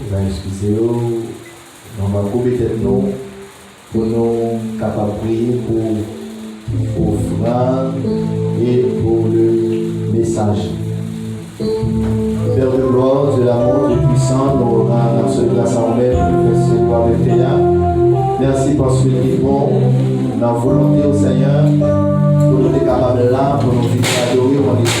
Nou va eskize yo, nou va koube tèt nou pou nou kapab priye pou ofrann e pou le mesaje. Père de gloire, Dieu d'amour, Dieu puissant, nou ran nan sèl gras a ou menm pou nou fè seri wa menm te a. Mèsi paske li te bon nan volonte ou Senyè pou nou te kapab la pou nou vini adore ou an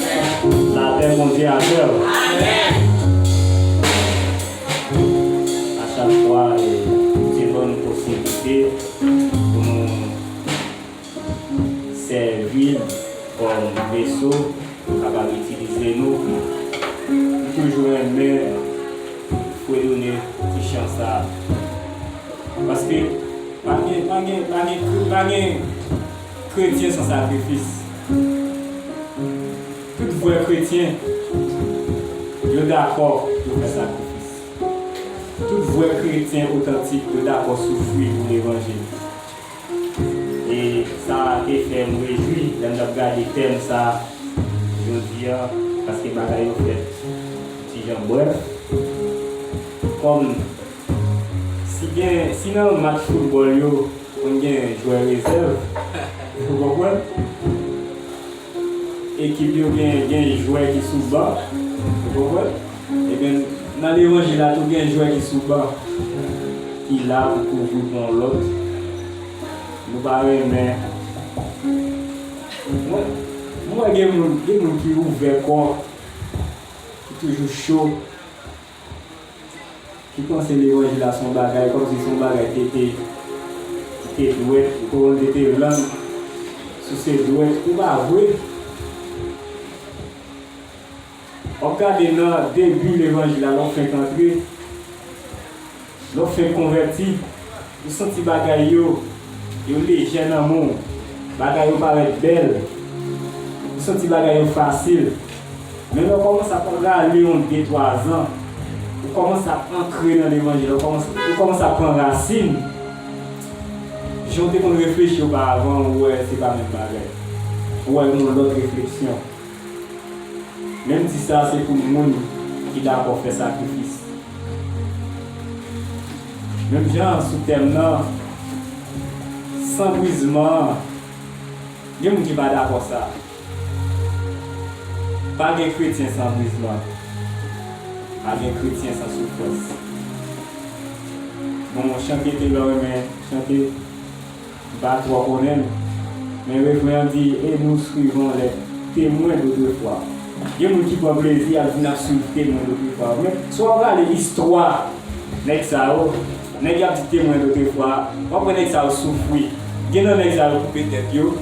Lapè Bondye avèw. Achak fwa li te ban nou posiblite pou nou sèvil kòm veso pou l kapab itilize nou. M toujou renmen fredone ti chan sa paske pa gen pa gen pa gen pa gen Kretyen san sakrifis. Tout vrè kretyen yo dakò pou fè sakrifis. Tout vrè kretyen otantik yo dakò soufri pou levanjil. E sa te fè m rejwi lè m t ap gade tèm sa jodi a paske bagay yo fèt ti jan brèf. Kòm. Si gen, si nan yon match foutbòl yo konn gen jwè rezèv, ou konprann, ekip yo gen, gen jwè ki sou ban, ou konprann, eben nan levanjil la tou gen jwè ki sou ban ki la pou kouvri pou yon lòt. Nou pa renmen, mwen, mwen wè gen moun, gen moun ki ouvè kò, ki toujou cho. Ki panse levanjil la son bagay komsi son bagay ki te ki te dwèt ou konprann ki te lang si se dwèt ki pa vre wap gade nan debi levanjil la lè w fenk antre Lè w fenk konvèti, ou santi bagay yo yo lejè nan men w, bagay yo parèt bèl, ou santi bagay yo fasil. Men lè w kòmanse ap rale yon de twa zan, ou kòmanse ap ankre nan levanjil la, ou kòmanse ap pran rasin, jan w te konn reflechi oparavan an ou wè se pa menm bagay. Ou wè gen yon lòt refleksyon. Menm di sa se pou moun ki dakò fè sakrifis. Menm jan sou tèm nan, san brizman an, gen moun ki pa dakò sa. Pa gen kretyen san brizman. Pa gen kretyen san soufrans. Bon chante Telor renmen chante. M pa twò konnen l, men refren an di e nou swivrons les temwen dotrefwa. Gen moun ki pran plezi y ap di n ap swiv temwen dotrefwa yo. Men, si w ap rale istwa nèg sa yo, nèg y ap di temwen dotrefwa, w ap wè nèg sa yo soufri. Gen nan nèg sa yo koupe tèt yo,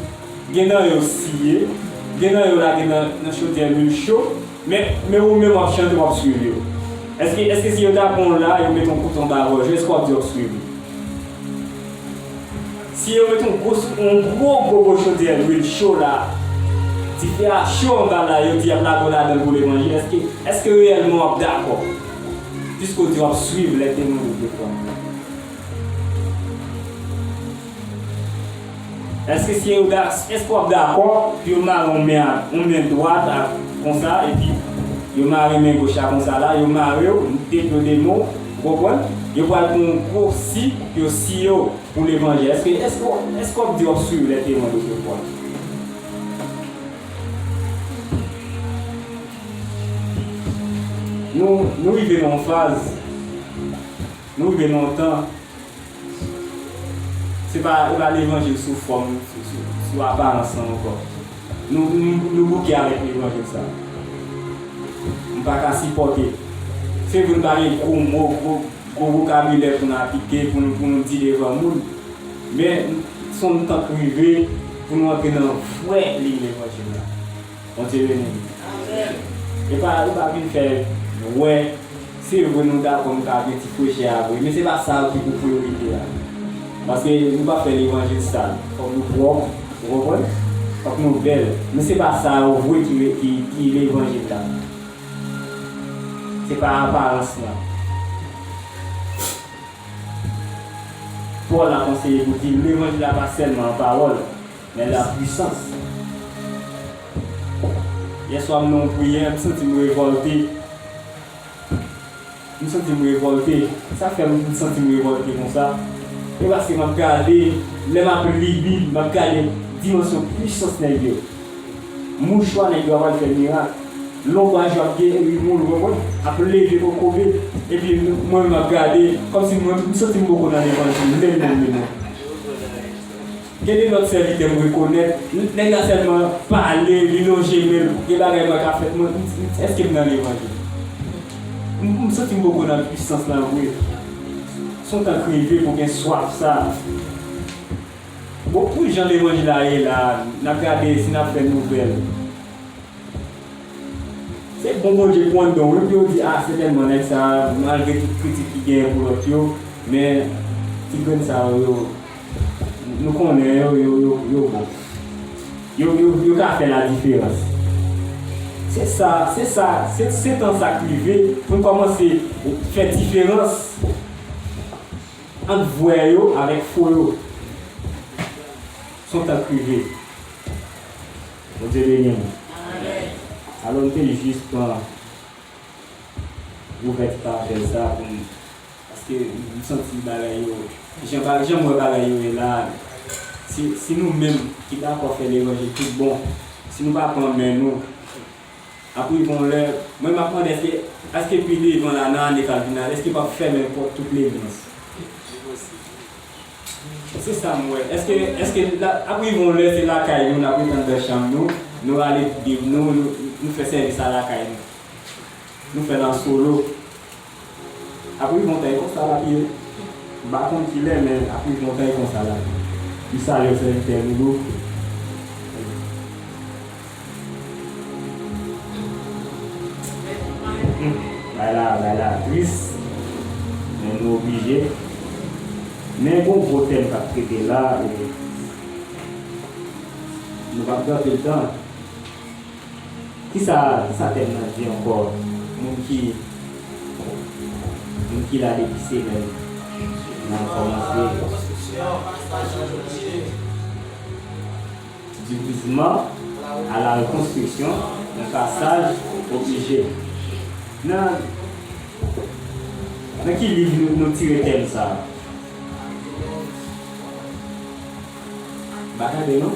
gen nan yo siye, gen nan yo lage nan chodyè lwil cho. Men men ou menm wap chante wap swiv yo Eske eske si yo ta pran w la yo met yon kout anba gòj ou eske wap di wap swiv yo? Si yo met yon gwo yon gwo gwo gwo chodyè lwil cho la dife a cho anba la yo di yap lage w ladan l pou levanjil eske eske reyèlman wap dakò piske w di wap swiv lè temwen yo te pran w la? Eske se yo dak eske wap dakò pou yo mare yon men ak yon men dwat ak konsa epi yo mare men goch la konsa la yo marew tep yo de mou ou konprann yo pral pran yon gro si pou yo si yo pou levanjil eske eske eske wap di wap swiv lè temwen do se fwa. Nou rive nan yon faz nou rive nan yon tan. Se pa levanjil sou fòm, sou aparans lan ankò. Nou bouke avèk levanjil sa. M pa ka sipòte. Se vre n pa gen gwo mo, gwo vokabilè pou n apike, pou nou di devan moun. Men, son tan k rive pou nou antre nan vrè liy levanjil la. Bondye beni nou. Amen. Epa epa vin fè Nou wè se vre Nou dakò Nou ka gen ti prechè a vre men se pa sa ki pou priyorite a paske Nou pa fè levanjil sal fòk Nou pwòp ou konprann fòk Nou bèl men se pa sa yo vre ki levanjil la se pa aparans lan Paul ap anseye pou di levanjil la pa sèlman an pawòl. Men la pwisans. Yè swa m nan yon priyè, m santi m revòlte. M santi m revòlte. Sa k fè m santi m revòlte konsa? E paske m ap gade, lè m ap li Bib, m ap gade dimansyon pwisans nèg yo. Mouchwa nèg yo ap al fè mirak. Lonbwaj yo ap geri moun, ou konprann, ap leve kokobe. Epi mwen menm m ap gade, kòmsi mwen, m santi m poko nan levanjil menm menm menm non. Gen de lòt sèvitè m rekonèt, nèg la sèlman pale, li lonje men l, gen bagay mwen ka fè, mwen, èske m nan levanjil? M santi m poko nan pwisans lan vre. S on tank reve pou gen swaf sa a. Bon, pou jan levanjil la ye la a, n ap gade si n ap fè nouvèl. Se bon Bondye pou anndan w wi, pou yo di, a, sètènman nèg sa a, malgre tout kritik ki genyen pou lòt yo, men ti grenn sa yo, yo. Nou konnen yo, yo bon. Yo ka fè ladiferans. Se sa, se sa, se tan sa k rive pou n kòmanse fè diferans ant vrè yo avèk fo yo. Son tan k rive. Bondye beni nou. Alò m te jis pran ouvèti parabòl sa a pou m. Paske m santi bagay yo, jan m wè bagay yo ye la a, si nou menm ki dakò fè levanjil tout bon, si nou pa pran men nou, ap rive yon lè, mwen m ap mande èske, èske pi devan la a, nan ane k ap vini la a, èske yo pa p fèmen pòt tout legliz? Se sa m wè. Èske, èske ap rive yon lè se lakay nou, n ap rete anndan chanm nou, nou rale bib nou, nou fè sèvis a lakay nou, nou fè l an solo? Apri montay konsa lap ye. M pa konn kilè men apri montay konsa lap ye. M salye w sèvitè Loulou. Bagay la bagay la tris men nou oblije. Men gon gwo tèm kap trete la e nou pap pèdi tan. Kisa kisa tèm nan di ankò moun ki moun ki la depi semèn nan kòmanse. Du gisement à la reconstruction un passage obligé nan nan ki liv nou tire tèm sa m pa tande non.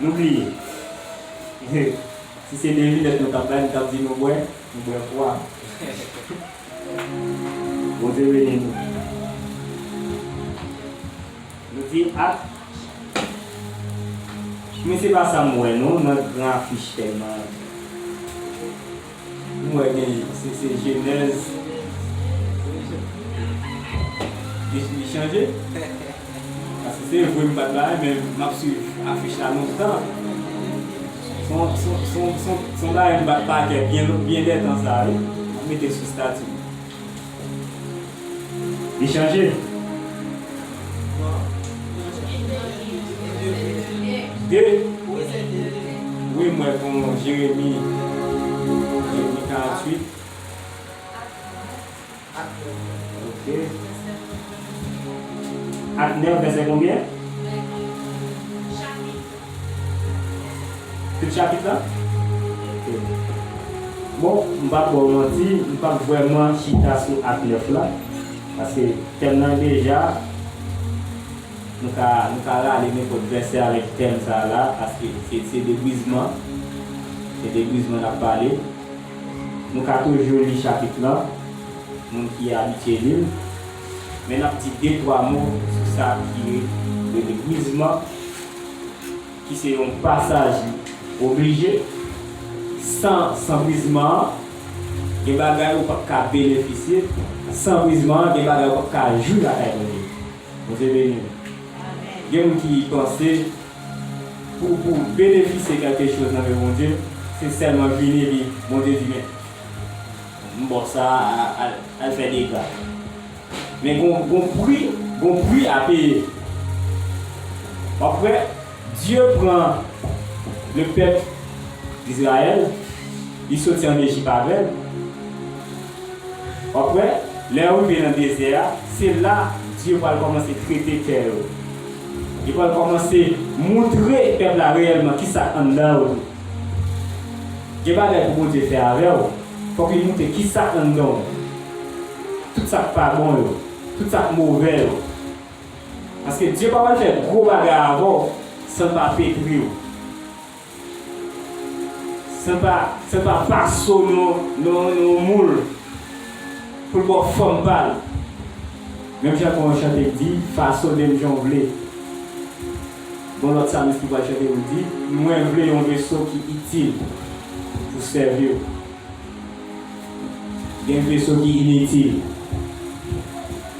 Nou bliye. He si se devinèt nou tap bay nou tap di nou bwè, nou bwè pwa. Bondye beni nou. Nou di ak Men se pa sa m wè non nan gran afich tèlman. M wè gen se se jenèz li chanje paske se vwe m pat la a men map swiv afich la lontan son bagay m bat pakè byen lètan sa wi map mete sou stati m. Li chanje. De. Wi mwen kon Jeremi. Jeremi 48. Ok. Ak 9 vèsè konbyen? Tout chapit la? Ok. Bon, m pap ba w manti, m pap vrèman chita sou ak 9 la, paske tèm nan deja, nou ka nou ka rale nenpòt vèsè avèk tèm sa la, paske se se de brizman, se de brizman n ap pale. Nou ka toujou li chapit lan, moun ki abitye li l, men n ap di de twa mo sou sa ki rele brizman. ki se yon pasaj oblije, san sanbrizman an, gen bagay ou p ap ka benefisye, san brizman an, gen bagay ou p ap ka jwi lakay Bondye. Bondye beni nou. Gen moun ki panse pou pou benefisye kèlke choz nan men Bondye, se sèlman vini epi Bondye di men m ba w sa a, al fè dega. Men gon pri gon pri a peye. Après Dieu pran le pèp Israël li soti an Egypt avèl après lè yo rive nan dezè a se la Dieu pral kòmanse trete kè yo li pral kòmanse moutre pèp la reyèlman kisa k anndan yo tou gen bagay pou Bondye fè avèw fòk li moutre kisa k anndanw. tout sa k pa bon yo, tout sa k move yo. Paske Dye pa pral fè gwo bagay avè w san l pa petri w, san l pa, san l pa pase w nan nan yon moul pou l ba w fòm pa l. Menm jan gen yon chante k di, Fasone m jan w vle. Gon lòt salis ki pral chante pou l di, Mwen vle yon veso ki itil pou sèvi w. Gen veso ki initil.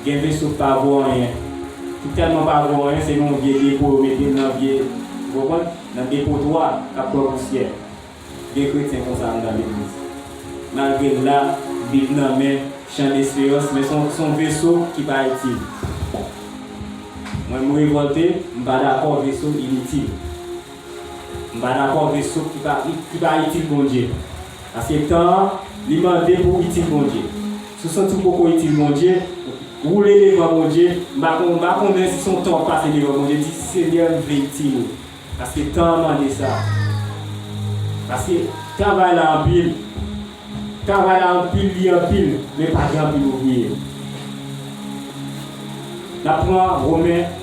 Gen veso ki pa vo anyen. Ki tèlman pa vo anyen se nan yon vye depo yo mete l nan vye, ou konprann, nan depotwa k ap kwè pousyè. Gen kretyen konsa anndan legliz. Malgre l la, bib nan men, chan desperans, men se yon veso ki pa itil. Mwen m revòlte, m pa dakò veso initil. M pa dakò veso ki pa ki pa itil Bondye. Paske tan an li mande pou itil Bondye. Si w santi w poko itil Bondye, woule devan Bondye, m pa m pa konnen si se yon tan w ap pase devan Bondye, di, Senyè, m vle itil ou. Paske tan an mande sa. Paske travay la anpil. Travay la anpil, li anpil, men pa gen anpil ouvriye. N ap pran Romen.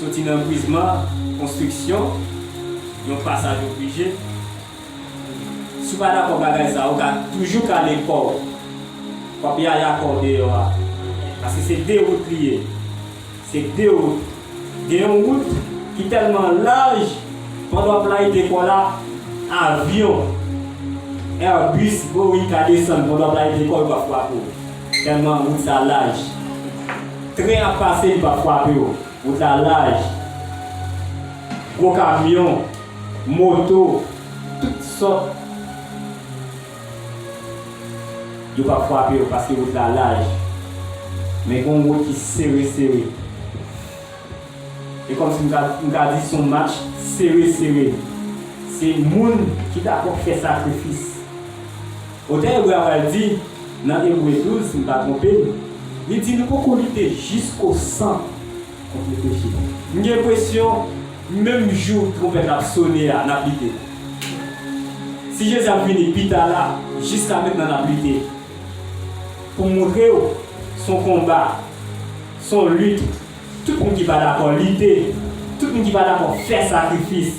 Soti nan brizman konstriksyon yon pasaj oblije. Si w pa dakò bagay sa a, ou ka toujou kale kò w. W ap yaya kò w deyò a. Paske se de wout li ye. Se de wout. Gen yon wout ki tèlman laj, pandan w ap layite kò w la, avyon, Airbus, Boeing ka desann pandan w ap layite kò w yo pa frape w. Tèlman wout la laj. Tren ap pase li pa fwape w. Wout la laj. Gwo kamyon, moto, tout sòt. Yo pap fwape w paske wout la laj. Men gen yon wout ki sere sere. E kòmsi m ka di se yon match sere sere. Se moun ki dakò fè sakrifis. Otè ebre a pral di, nan Ebre 12, si m pa twonpe m, li di nou poko lite jisko san kont lepeche. M gen enpresyon, menm jou twonpèt la ap sone a, n ap lite. Si Jezi ap vini pita la, jiska mentnan n ap lite. Pou m montre w, s on konba, s on lit, tout moun ki pa dakò lite, tout moun ki pa dakò fè sakrifis.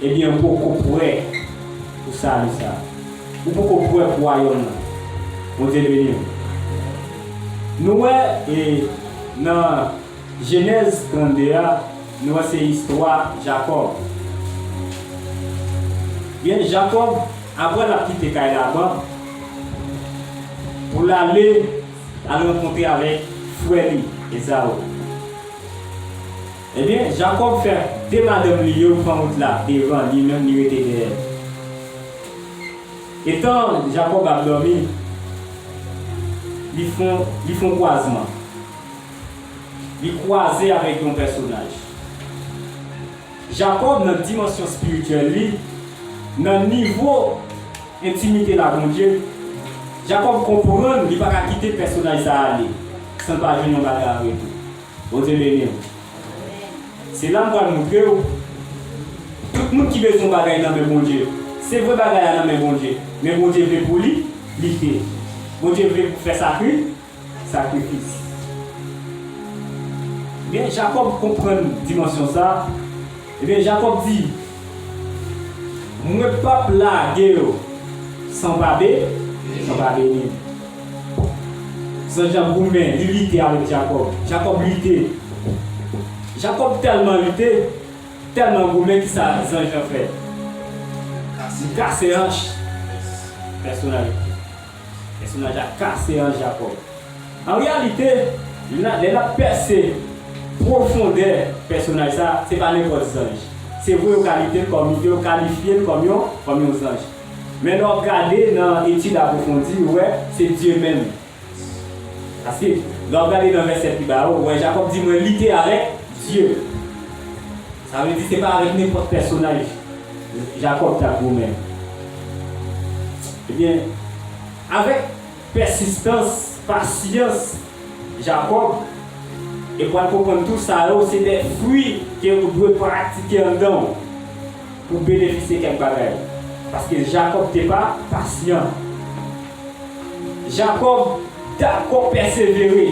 Ebyen ou poko prè pou sali sa. Ou poko prè pou wayòm nan. Bondye beniw. Nou wè e nan jenèz 32 a nou wè se istwa Jakòb. Ebyen Jakòb aprè lap kite kay Laban pou lale al rankontre avèk frè li Ezaou. Ebyen, Jakòb fè de madanm li yo pran wout la devan, li menm li rete dèyè. Etan Jakòb ap dòmi, li fon li fon kwazman. Li kwaze avèk yon pèsonaj. Jakòb nan dimansyon spirityèl li, nan nivo entimite l a Bondye, Jakòb konprann li pa ka kite pèsonaj sa ale san l pa jwenn yon bagay an retou. Bondye beniw. Se la m pral moutrew tout moun ki bezwen yon bagay nan men Bondye. Se vre bagay la nan men Bondye, men Bondye vle pou li lite. Bondye vle pou fè sakri sakrifis. Men Jakòb konprann dimansyon sa. Ebyen, Jakòb di, Mwen p'ap lage yo san pa be, san pa beni. Zanj la goumen, li lite avèk Jakòb. Jakòb lite. Jakòb tèlman lite, tèlman goumen ki sa zanj lan fè? Li kase anch. Pèsonalite. Pèsonaj la kase an Jakòb. An reyalite, lè n ap pèse pwofondè pèsonaj sa a, se pa nenpòt zanj. Se vre yo kalite l kòm, yo kalifye l kòm yon, kòm yon zanj. Men lè w ap gade nan etid apwofondi, ou wè se Dye menm. A swiv. Lè w ap gade nan vèsè pi ba yo, ou wè Jakòb di, Mwen lite avèk Dye. Sa vle di se pa avèk nenpòt pèsonaj Jakòb t ap goumen. Ebyen, avèk pèsistans, pasyans Jakòb, e pral konprann tou sa yo se de fwi ke ou dwe pratike anndan ou pou w benefisye kèk bagay. Paske Jakòb te pa pasyan. Jakòb dakò pèsevere.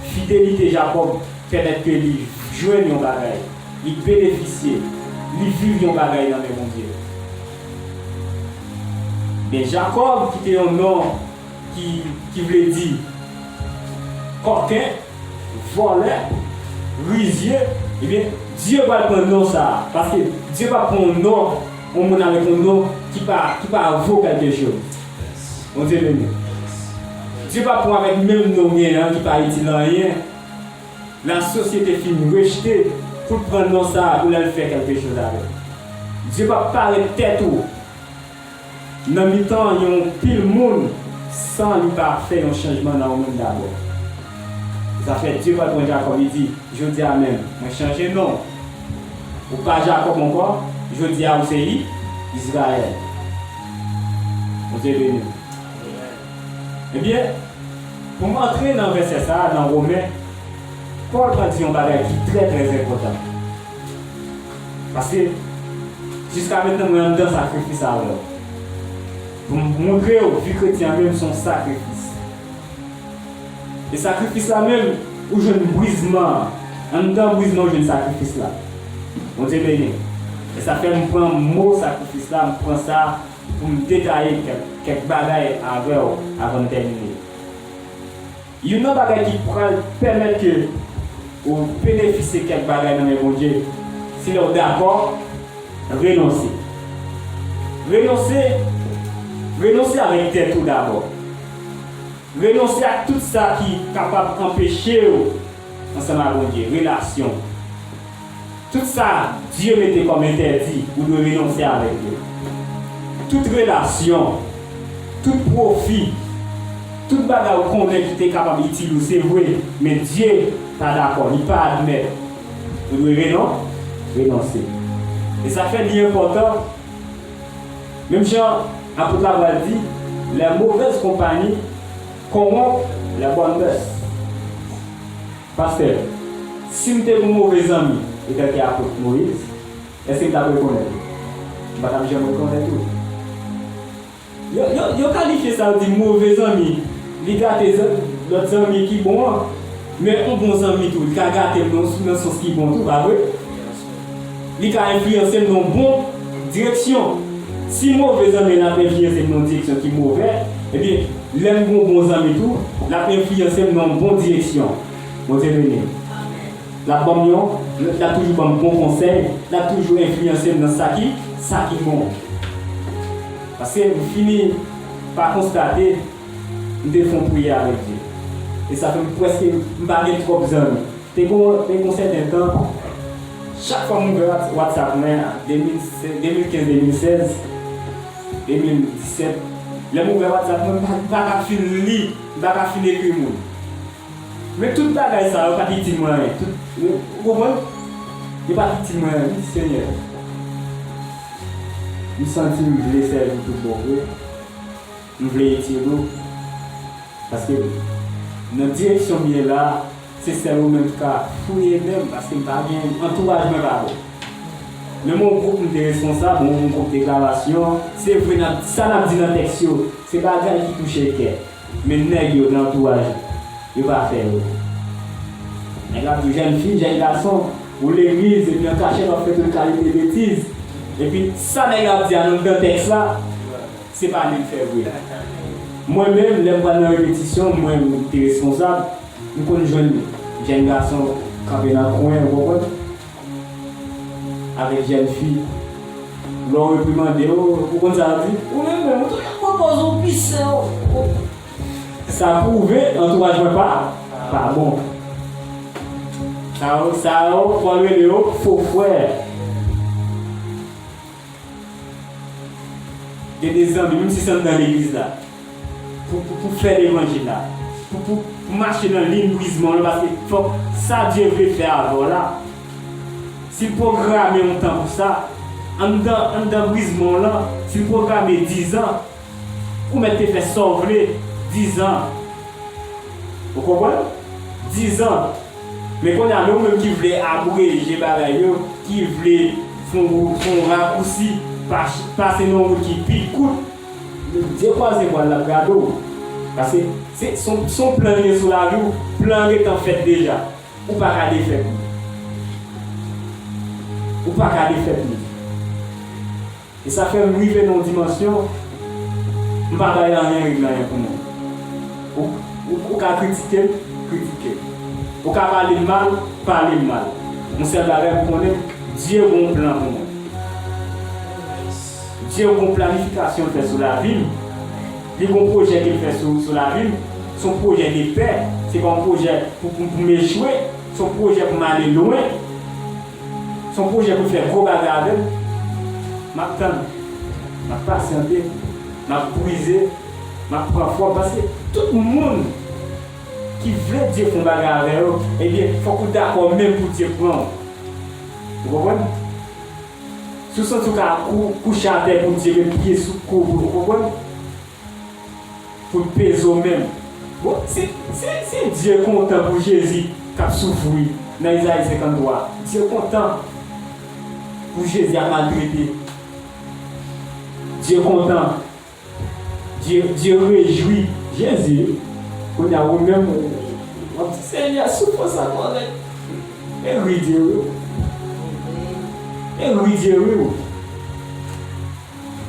Fidelite Jakòb pèmèt ke li jwenn yon bagay, li benefisye, li viv yon bagay nan men Bondye. Men Jakòb ki te yon non ki ki vle di kòken, vòlè, rizye, ebyen Dye pral pran non sa a, paske Dye pap pran yon non yon moun avèk yon non ki pa ki pa vo kèlkechoz. Bondye beni w. Dye pa pran avèk menm non w gen an ki pa itil anyen, lasosyete fin rejte pou l pran non sa pou l al fè kèlke choz avèl. Dye pa p parèt tèt ou nan mitan yon pil moun san li pa fè yon chanjman nan ou menm dabò. Zafè Dye pral pran Jakòb li di, Jodi a menm, mwen chanje non w. Ou pa Jakòb ankò, jodi a ou se I, Izrayèl. Bondye beni nou. Ebyen, pou m antre nan vèsè sa a nan Women, Pòl pran di yon bagay ki trè trè enpòtan. Paske, jiska mentnan mwen anndan sakrifis avè w. Pou m montre w vi kretyen an menm se yon sakrifis. E sakrifis la menm, ou jwenn brizman an. Anndan brizman ou jwenn sakrifis la. Bondye beni w. E sa fè m pran mo sakrifis la, m pran sa pou m detaye kèk bagay avè w avan n tèmine. Youn nan bagay ki pral pèmèt ke ou benefisye kèk bagay nan men Bondye, se lè w dakò renonse. Renonse, renonse avèk tèt ou dabò. Renonse ak tout sa ki kapab anpeche w ansanm ak Bondye, relasyon. Tout sa Dye mete kòm entèdi, ou dwe renonse avèk yo. Tout relasyon, tout pwofi, tout bagay ou konnen ki te kapab itil ou se vre, men Dye pa dakò, li pa admèt. Ou dwe renon, renonse. E sa k fè li enpòtan. Menm jan Apot la pral di, lè movèz konpayi konwonp lè bòn mès. Pastè, si m te yon move zanmi etèlke Apot Moyiz, èske m t ap rekonèt ou? M pa t ap janm rekonèt ou. Yo kalifye sa yo di move zanmi, li gate lòt zanmi ki bon an. Men yon bon zanmi tou, li ka gate m nan sans ki bon tou, pa vre? Li ka enfliyanse n nan bon direksyon. Si move zanmi an ap enfliyanse m nan yon direksyon ki move, ebyen, lè m gen yon bon zanmi tou, l ap enfliyanse m nan yon bon direksyon. Bondye beni n. L ap ban m yon, l ap toujou ban m bon konsèy, l ap toujou enfliyanse m nan sa ki, sa ki bon. Paske m fini pa konstate m te fè yon priyè avèk Dye. E sa fè m prèske m pa gen twòp zanmi. Te gon te gon sèten tan, chak fwa m ouvè Whatsapp mwen an, 2016, 2015, 2016, 2017, lè m ouvè Whatsapp mwen, m pa ka fin li, m pa ka fin ekri moun. Men tout bagay sa yo pa t itil mwen anyen. Tout, ou konprann? Yo pa t itil mwen anyen. M di, Senyè, m santi m vle sèvi w tout bon vre. Nou vle etid ou paske nan direksyon m ye la se sèl ou menm k ka fouye menm paske m pa gen antouraj mwen pa bon menm yon gwoup m te responsab yon gwoup deklarasyon se vre nan sa n ap di nan tèks yo se bagay ki touche kè men nèg yo nan antouraj ou yo pa fè yo nèg la ap di w jèn fi jèn gason ou legliz epi an kachèt w ap fè tout kalite betiz epi sa nèg la ap di a nan mitan tèks la. Se pa li l fè vre. Mwen menm lè m pral nan repetisyon mwen m te responsab m konn jwenn jenn gason kanpe nan kwen ou konprann avèk jenn fi lè w reprimande yo ou konn sa yo di? Ou menm menm ou toujou pran pòz ou pi sen ou ou. Sa pwouve antouraj mwen pa pa bon. Sa yo sa yo pral rele yo fo frè. Gen de zanmi, menm si se anndan legliz la, pou pou fè levanjil la, pou pou mache nan liy brizman w lan paske fòk sa Dye vle fè avè w la, si l pwograme yon tan pou sa, anndan anndan brizman w lan, si l pwograme dizan, ou mèt te fè sa w vle dizan. Ou konprann? Dizan. Men konnya nou menm ki vle abreje bagay yo, ki vle fon wout, fon rakousi, pase nan yon wout ki pi kout, Dye kwaze bwal lap gade w. Paske se son plan li ye sou lavi w, plan an gentan fèt deja. Ou pa ka defèt li. Ou pa ka defèt li. E sa fè m rive nan yon dimansyon, m pa bay anyen règ nan anyen pou moun. Ou ka kritike m, kritike m. Ou ka pale m mal, pale m mal. Yon sèl bagay pou konnen, Dye gon plan pou mwen. Dye gon planifikasyon l fè sou lavi m. Li gon pwojè ke l fè sou lavi m. Se yon pwojè de pè. Se pa yon pwojè pou m echwe. Se yon pwojè pou m ale lwen. Son pwojè pou fè gwo bagay avèl map tann map pasyante map brize map pran fòm paske tout moun ki vle Dye fon bagay avè yo ebyen fòk ou dakò menm pou Dye pranw ou konprann si w santi w ka kouche atè pou Dye met pye sou kouw ou konprann. Fout pezo menm. Bon si si si Dye kontan pou Jezi kap soufri nan Ezayi 53 Dye kontan pou Jezi ap maltrete Dye kontan Dye Dye rejwi Jezi wi kounya ou menm wap di Senyè soufrans la kòrèk e ri Dye ri w e ri Dye ri w.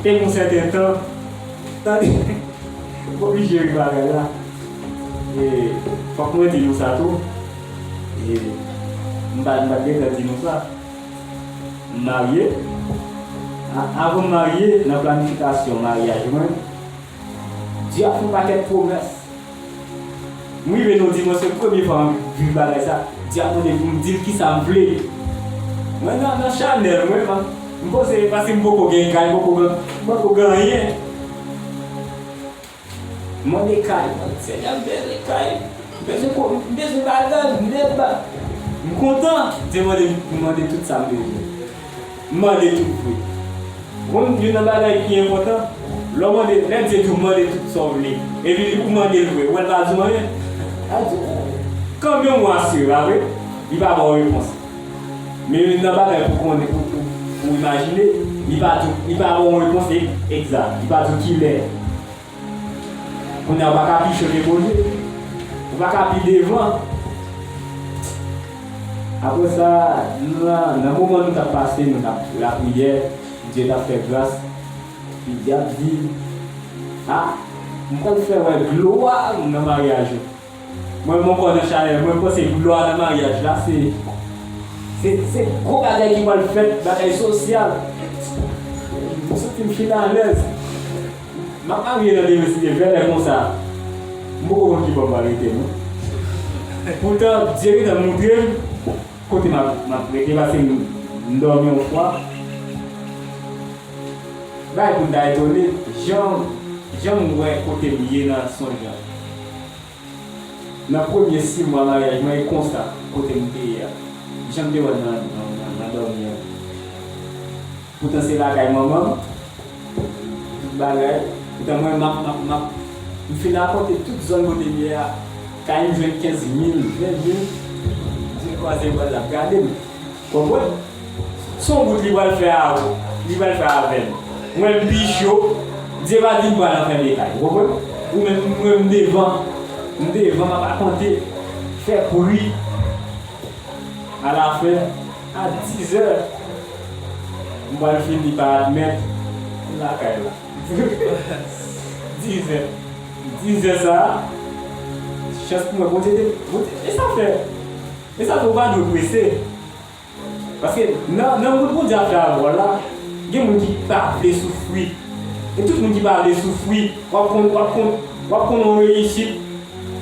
E yon sèten tan, tande, m oblije ri bagay la, e fòk mwen di nou sa tou, e m pa t gentan di nou sa, m marye, avan m marye, nan planifikasyon maryaj mwen, Giraffe yon pakèt pwomès. M rive nou di mwen se premye fwa m viv bagay sa, Giraffe mande pou m di l kisa m vle. Mwen nan nan chanèl mwen man, m poze paske m poko gen kay, m poko gen anyen. M mande kay, senyè m bezwen kay, m bezwen ko, m bezwen bagay, m bezwen bagay. M kontan, Dieu mande m mande tout sa m bezwen. M mande tout vre. Ou konn youn nan bagay ki enpòtan, lè w mande, lè Bdye di w mande tout sa w vle, epi ou mande l vre, ou wè l pa di w anyen? Al di w anyen. Kanmenm ou asire, pa vre? Li pa ba w repons. Men youn nan bagay pou konnen, pou imajine, li pa di w, li pa ba w repons egzat. Li pa di w kilè. Kounya ou paka pi cho ke Bondye. Ou paka pi devan. Apre sa, nan moman nou tap pase, nou tap lapriyè, Bondye tap fè gras, epi Dyab di, A, m pral fè wè glwa ou nan maryaj ou. Mwen mwen kò nan chalè mwen panse glwa nan maryaj la se se gwo bagay ki pral fèt bagay sosyal mwen santim fin alèz map marye nan demen si Dye vle lè konsa m poko konn ki bò pral rete non poutan Dye gentan moutrem kote map rete paske m dòmi yon fwa bagay poum ta etone jan janm wè kotem ye nan sonj la. Nan premye si mwa maryaj mwen e konsa kote m te ye a. Jan m te wè l nan dòmi an. Poutan se lakay manman m, tout bagay. Poutan mwen m ap. M fin rakonte tout zòn kote m ye a. Kay m jwenn 15 mil, 20 mil. Di l kwaze bra l l ap gade m. Konprann? Son wout li pral fè avw, li pral fè avèm. Mwen m pi cho, Bndye pa di m pral nan fènde kay. Ou konprann? Ou menm m wè m devan, m devan map akonte, fè bri. A la fen, a dizè, m pral fini pa admèt m lakay la. Dizè, dizè sa a, chans pou mwen Bondye te, Bondye te sa fè. E sa tou ou pa dwe prese. Paske nan nan moun Bondye ap jwe wòl la, gen moun ki pa vle soufri. E tout moun ki pa vle soufri, w ap konn w ap konn w ap konn yon reyisit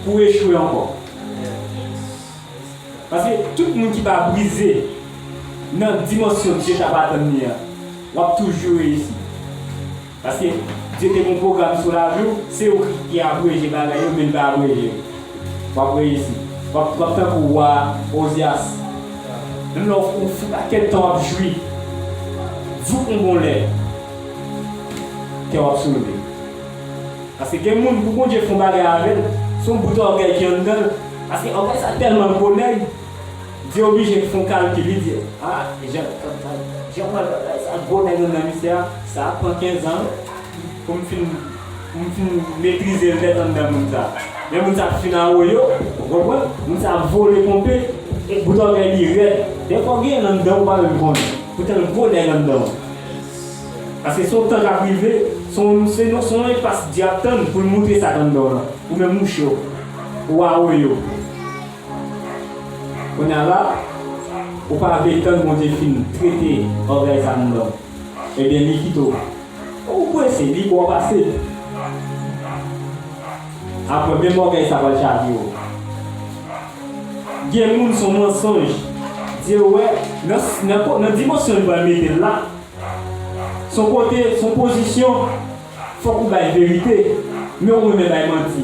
pou w echwe ankò. Paske tout moun ki pa brize nan dimansyon Dye t ap atann li an, w ap toujou reyisi. Paske Dye te gen yon pwogram sou lavi w, se ou ki abreje bagay yo men li pa abreje yo. W ap reyisi. W ap tankou wa Ozyas. Menm lè ou fou pakèt tan w ap jwi, jouk yon bon lè, kè w ap soulve. Paske gen moun pou Bondye fè yon bagay avè l, se yon bout ògèy ki anndan l. Paske ògèy sa tèlman gwo nèg. Di oblije fon kalkil li di a jan jan pral bagay sa ak gwo nèg an nan misye a sa ap pran 15 ans poum fin poum fin metrizel nèt an nan moun sa lè moun sa ap fin awoyo ou konprann moun sa ap vole ponpe e bout ògèy li rèd dèfwa ou genyenl anndanw ou pa menm konnen poutan gwo nèg anndanw paske son tan kap rive son son enpas Dye ap tann poul moutre sak anndanw lan ou menm ou cho ou awoyo. Kounya la ou pa vle tann Bondye fin trete ògèy sa nan lòd ebyen li kite w Ou prese li bo w pase l Aprè menm ògèy sa pral chavire w Gen moun son mansonj Dye wè nan dimansyon li pral mete l la son kote son pozisyon fòk ou bay verite men ou renmen bay manti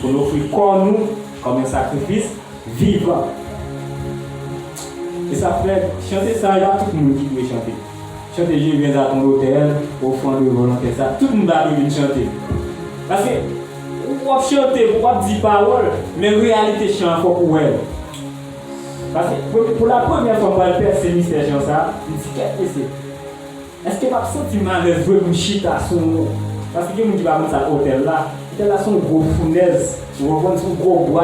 pou n ofri kò nou kòm yon sakrifis vivan. Se sa Fred, chante sa ya tout moun ki dwe chante. Chante Je viens à ton l'autel, offrande volontaire sa tout moun ta dwe vin chante. Paske w ap chante, w ap di pawòl, men reyalite chan an fòk ou wè l. Paske pou la premyè fwa m pral pèse mistè chan sa, m di kèk mesye. Eske pap soti malè vre pou m chita sou ou paske gen moun ki pa konn sa k otèl la. Otèl la se yon gwo founèz ou konprann se yon gwo bwa.